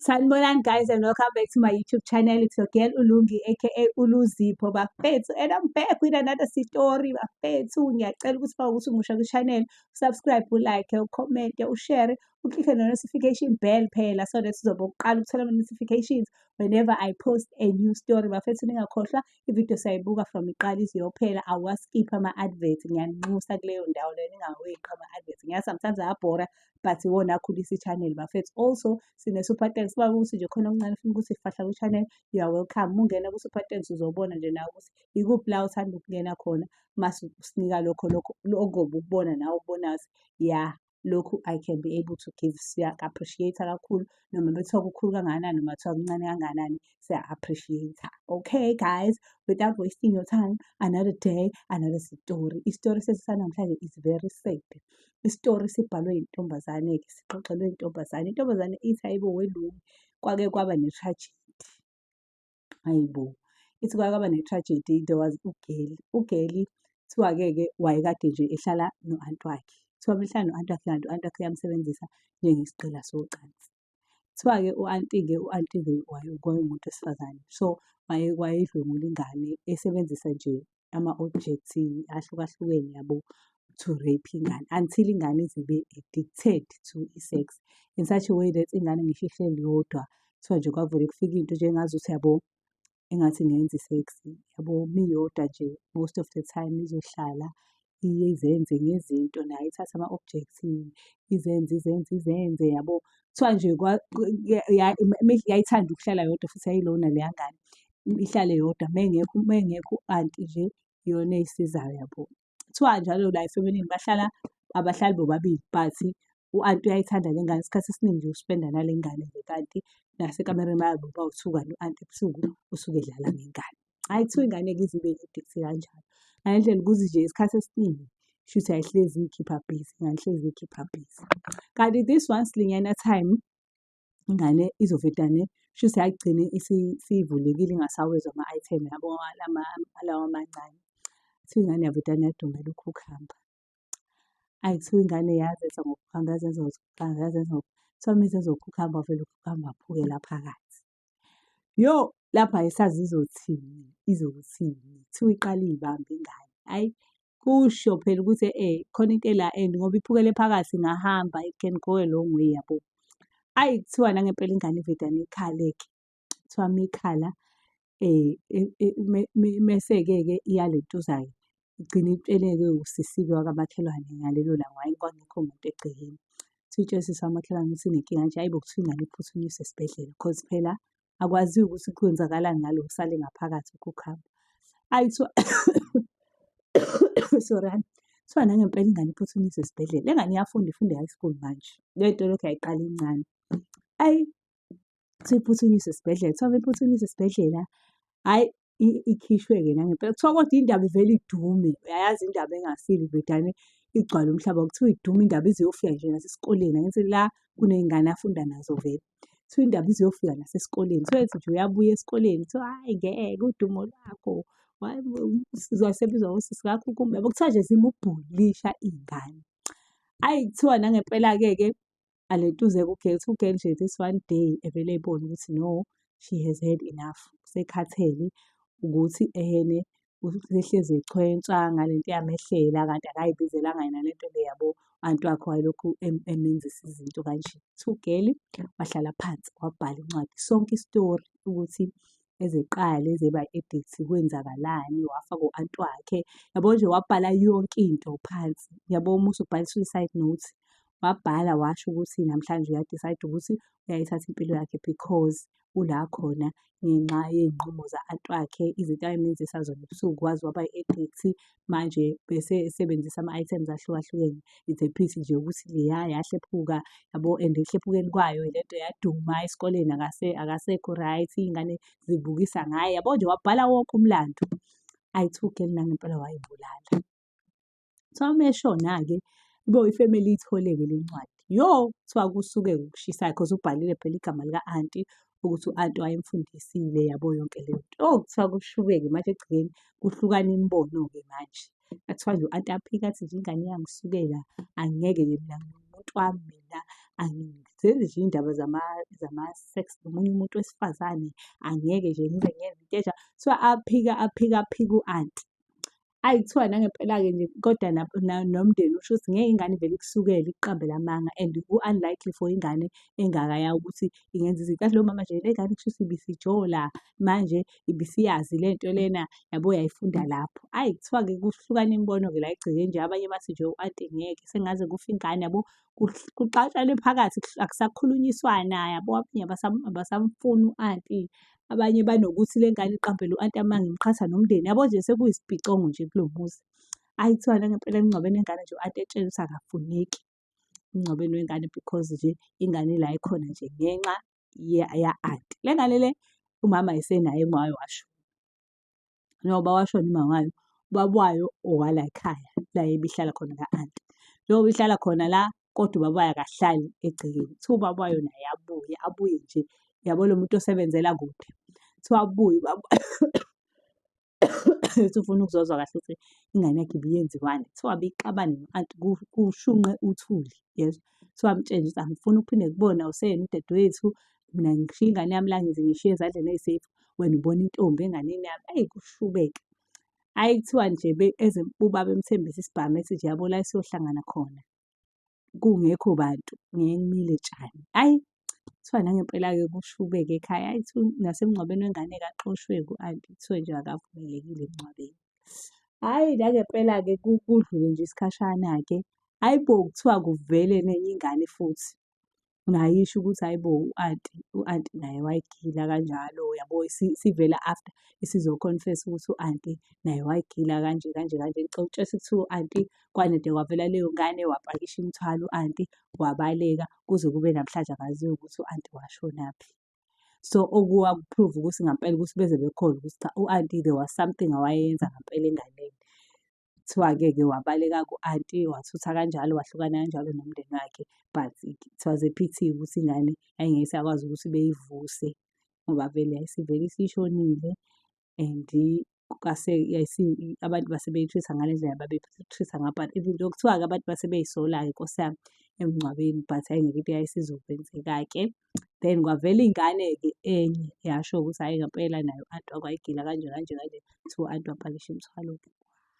Sanibonani guys and welcome back to my YouTube channel. It's your girl Ulungi aka Uluzipho bafethu and I'm back with another story bafethu. Ngiyacela ukuthi uma ukuthi umusha ku channel, subscribe, u like, u comment, u share, u click on the notification bell phela so that sizobe uqala ukuthola ama notifications whenever I post a new story. Bafethu ningakhohlwa ivideo sayibuka from iqala iziyophela awaskip ama advert ngiyanxusa kuleyo ndawo leyo ningaweqi ama advert. Ngiya sometimes ayabhora but iwona akhulisa i-channel bafethu also sine-super thanks uba ukuthi nje khona okuncane funa ukuthi fahla kwi-channel you are welcome mungena ku-super thanks uzobona nje nawe ukuthi ikuphi la uthanda ukungena khona mase usinika lokho lokho okobe ukubona nawe ukubonayo ya lokhu i can be able to give siya-appreciate kakhulu noma bethiwa kukhulu kangakanani noma kuthiwa kuncane kangakanani siya-appreciate okay guys without wasting your time another day another story isitori sesisanamhlanje is very sad isitori sibhalwe yintombazane-ke sixoxelwe intombazane. Intombazane ithi hayibo welungu kwake kwaba ne-tragedy. Hayibo, ithi kwake kwaba ne-tragedy there was ugeli. Ugeli kuthiwa-ke-ke wayekade nje ehlala no-anti wakhe. Kuthiwa uma ehlala no-anti wakhe kanti u-anti wakhe uyamsebenzisa njengesigqila socansi. Kuthiwa-ke u-anti-ke, u-anti-ke wayengumuntu wesifazane. So, wayedlwengula ingane esebenzisa nje ama-objects ahlukahlukene yabo to rape ingane until ingane ize ibe addicted to i-sex in such a way that ingane ngisho ihleli yodwa kuthiwa nje kwavele kufika into njengazuthi yabo engathi ngenza i-sex yabo miyodwa nje most of the time izohlala iye izenze ngezinto nayo ithathe ama-objects izenze izenze izenze yabo. Kuthiwa nje yayithanda ukuhlala yodwa futhi yayilona leya ngane ihlale yodwa uma engekho uma engekho u-anti nje iyona eyisizayo yabo. kuthiwa njalo la efeminini bahlala abahlali bobabili but u-anti uyayithanda le ngane isikhathi esiningi nje uspenda nale ngane nje kanti nasekamereni bayabe bawuthuka no-anti ebusuku usuke edlala ngengane hhayi kuthiwa ingane-ke izibe nedeksi kanjalo ngale ndlela ukuthi nje isikhathi esiningi shuthi ayihlezi ikhipha busy ngangihlezi ikhipha busy kanti this one slinyana time ingane izovedane shuthi yagcine isivulekile ingasawezwa ama-item yabo alawa amancane kuthiwa ingane yavedane yadumela ukhukhamba ayi kuthiwa ingane yazenza ngokuhamba yazenza ngokuhamba yazenza kuthiwa uma izenza ukhukhamba wavele ukhukhamba aphukela phakathi yo lapho ayisazi izothini izothini kuthiwa iqale iyibambe ingane ayi kusho phela ukuthi eh khona into ela and ngoba iphukele phakathi ngahamba it can go a long way yabo ayi kuthiwa nangempela ingane iveda nekhale-ke kuthiwa mikhala um eh, e, e, mese-ke-ke iyaletuza-ke igcine itsheleke usisibe wakamakhelwane ngalelo langa hhayi kwangekho muntu egcekeni kuthiwa utshela usisi wamakhelwane ukuthi inenkinga nje hhayi bo kuthiwa ingane iphuthunyiswe esibhedlela cause phela akwaziyo ukuthi kwenzakalani ngalo kusale ngaphakathi ukukhamba ayi kuthiwa sorry kuthiwa nangempela ingane iphuthunyiswe esibhedlela le ngane iyafunda ifunda high school manje le nto lokhu yayiqala incane ayi kuthiwa iphuthunyiswe esibhedlela kuthiwa iphuthunyiswe esibhedlela hhayi ikhishwe-ke nangempela. Kuthiwa kodwa indaba ivele idume, uyayazi indaba engasile ivele igcwale umhlaba. Kuthiwa idume indaba ize iyofika nje nasesikoleni, angithi la kuney'ngane afunda nazo vele. Kuthiwa indaba ize iyofika nasesikoleni. Kuthiwa ethi nje uyabuya esikoleni kuthiwa hhayi ngeke udumo lwakho, hhayi uzosebizwa ngosisi ngakho kumbe yabo. Kuthiwa nje zimubhulisha iy'ngane. Ayi kuthiwa nangempela-ke ke alentuze ku-girl to girl nje this one day evele ebone ukuthi no she has had enough usekhathele ukuthi ehene usehlezi echwensa ngale nto yamehlela kanti akayibizelanga yena le nto le yabo anti wakhe wayelokhu emenzisa izinto kanje so girl wahlala phansi wabhala incwadi sonke isitori ukuthi ezeqale zeba addict kwenzakalani wafa ko-anti wakhe yabo nje wabhala yonke into phansi yabo uma usubhala i-suicide note wabhala washo ukuthi namhlanje uyadicide ukuthi uyayithatha impilo yakhe because ula khona ngenxa yey'nqumo za-anti wakhe izinto ayemenzisa zona ebusuku waze waba i-addict manje bese esebenzisa ama-items ahlukahlukene. It's a pity nje ukuthi leya yahlephuka yabo and ekuhlephukeni kwayo le nto yaduma esikoleni akase akasekho right, iy'ngane zibukisa ngaye yabo nje wabhala wonke umlando. I took it nangempela wayibulala. So uma eshona-ke kube ifemeli iyithole-ke le ncwadi. Yo! Kuthiwa kusuke kushisa because ubhalile phela igama lika-anti ukuthi u-anti wayemfundisile yabo yonke le nto. Oh, kuthiwa kushubeke manje ekugcineni kuhlukana imibono-ke manje. Kuthiwa nje u-anti aphike athi nje ingane iyangisukela, angeke-ke mina ngiwumuntu wami mina, angizenzi nje iy'ndaba zama-sex nomunye umuntu wesifazane, angeke nje ngize ngenze into enjalo. Kuthiwa aphike aphike aphike u-anti. Ayi kuthiwa nangempela-ke nje kodwa nomndeni usho ukuthi ngeke ingane ivele ikusukele ikuqambele amanga and ku-unlikely for ingane engaka yawo ukuthi ingenza izinto. Yazi loyo mama nje le ngane kushuthi ibisijola manje ibisiyazi le nto lena yabo yayifunda lapho. Ayi kuthiwa-ke kuhlukana imibono-ke la egcekeni nje abanye bathi nje u-anti ngeke sengaze kufe ingane yabo kuxatshanwe phakathi akusakhulunyiswana yabo abanye abasamfuni u-anti abanye banokuthi le ngane iqambele u-anti amanga imqhatha nomndeni yabo nje sekuyisibhicongo nje kulo muzi ayi kuthiwa nangempela emngcwabeni wengane nje u-anti etshela ukuthi akafuneki emngcwabeni wengane because nje ingane la ikhona nje ngenxa ya-anti le ngane le umama esenaye engwayo washo njengoba washona umama wayo, ubaba wayo owalayikhaya la ebihlala khona ka-anti. Njengoba ihlala khona la kodwa ubaba wayo akahlali egcekeni. Kuthiwa ubaba wayo naye abuye, abuye nje yabo lo muntu osebenzela kude. Kuthiwa abuye ubaba ethi ufuna ukuzozwa kahle ukuthi ingane yakhe ibiyenziwani. Kuthiwa abixabane no-anti kushunqe uthuli yezwa. Kuthiwa amtshele ukuthi angifuni ukuphinde kubona useyena udadewethu, mina ngishiye ingane yami la ngize ngishiye ezandleni eyi-safe, wena ubona intombi enganeni yami, eyi kushubeke. Hhayi kuthiwa nje ubaba emthembise isibhamu ethi nje yabo la esiyohlangana khona kungekho bantu ngeke kumile tshani. Hhayi kuthiwa nangempela-ke kushubeke ekhaya, hhayi kuthiwa nasemngcwabeni wengane kaxoshwe ku-anti kuthiwe nje akavumelekile emngcwabeni. Hhayi nangempela-ke kudlule nje isikhashana-ke, hhayi bo kuthiwa kuvele nenye ingane futhi. ngayisho ukuthi hhayi bo u-anti, u-anti naye wayigila kanjalo yabo sivela after isizo-confess-a ukuthi u-anti naye wayigila kanje kanje kanje. Ngicela ukutshela ukuthi kuthiwa u-anti kwanede kwavela leyo ngane wapakisha imithwalo u-anti wabaleka kuze kube namhlanje akaziwa ukuthi u-anti washonaphi. So okuwaku-prove ukuthi ngampela ukuthi beze bekhona ukuthi cha u-anti there was something awayenza ngampela enganeni. Kuthiwa-ke ke wabaleka ku-anti wathutha kanjalo wahlukana kanjalo nomndeni wakhe but it was a pity ukuthi ingane yayingeke isakwazi ukuthi beyivuse ngoba vele yayisivele isishonile and kwase abantu base beyi-treat-a ngale ndlela ababeyi-treat-a ngayo but even though kuthiwa-ke abantu base beyisola-ke nkosi yami emngcwabeni but hhayi ngeke into yayisizokwenzeka-ke. Then kwavela ingane-ke enye yasho ukuthi hhayi ngampela nayo u-anti wakho wayigila kanje kanje kanje. Kuthiwa u-anti wapakisha imithwalo-ke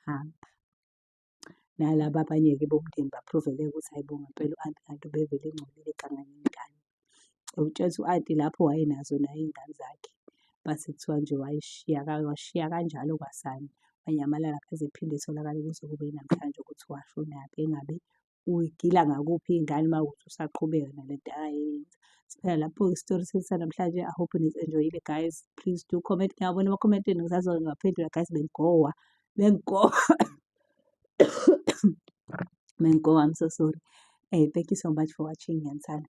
wahamba. Nalaba abanye-ke bomndeni ba-prove-ke ukuthi hhayi bo ngampela u-anti kanti ubevele engcolile eganga nengane. Ukutshela ukuthi u-anti lapho wayenazo naye iy'ngane zakhe, base kuthiwa nje wayishiya washiya kanjalo kwasani, wanyamalala akaze ephinde etholakale kuze kube yinamhlanje ukuthi washonaphi engabe uyigila ngakuphi ingane uma ukuthi usaqhubeka nale nto akayenza siphela lapho-ke isitori sethu sanamhlanje i hope nizi-enjoyile guys please do comment ngiyabona emakhomentini ngisazona ngibaphendula guys bengigowa bengigowa bengigowa i'm so sorry hey eh, thank you so much for watching ngiyanithanda